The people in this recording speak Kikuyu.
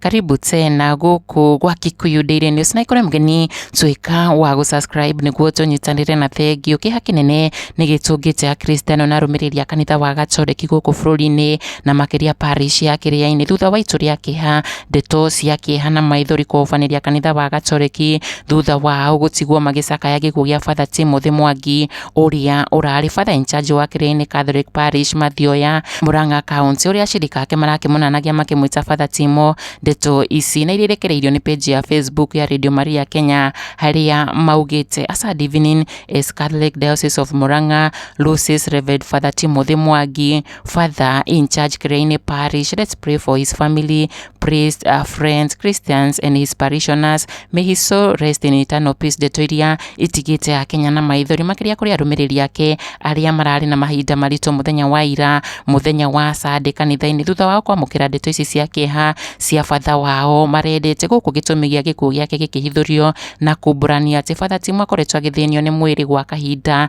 karibu tena guku gwa Kikuyu Daily News na ikore mgeni tuika wa gu subscribe niguo tunyitanire na thengio kiha kinene ni gitungi ja Kristiano na rumiriri a kanitha wa Gatoreki guku bururi-ini na makiria parish ya Kiriaini thutha wa itu ria kiha Ndeto cia kĩeha na maithori kũhobanĩria kanitha wa gatoreki thutha wao gũtigwo magĩcakaya gĩkuũ gĩa Father Timothy Mwangi ũrĩa ũrarĩ Father in charge wa Kĩrĩainĩ Catholic Parish Mathioya Murang'a County ũrĩa ashirika ake marakĩmũnanagia makĩmwĩta Father Timo. Ndeto ici na iria irekereirio nĩ page ya Facebook ya Radio Maria Kenya harĩa maugĩte as a divining as Catholic Diocese of Murang'a loses Rev Father Timothy Mwangi Father in charge Graine Parish. Let's pray for his family, priests, uh, friends, Christians, and his parishioners. May his soul rest in eternal peace. Ndeto iria itigĩte akenya na maithori makĩria kũrĩ arũmĩrĩri ake arĩa mararĩ na mahinda maritũ mũthenya wa ira mũthenya wa sande kanitha-inĩ thutha wao kwamũkĩra ndeto ici cia kĩeha cia batha wao marendete gũkũ gĩtũmi gĩa gĩkuũ gĩake gĩkĩhithũrio na kumbũrania atĩ batha ti mwakoretwo agĩthĩnio nĩ mwĩrĩ gwa kahinda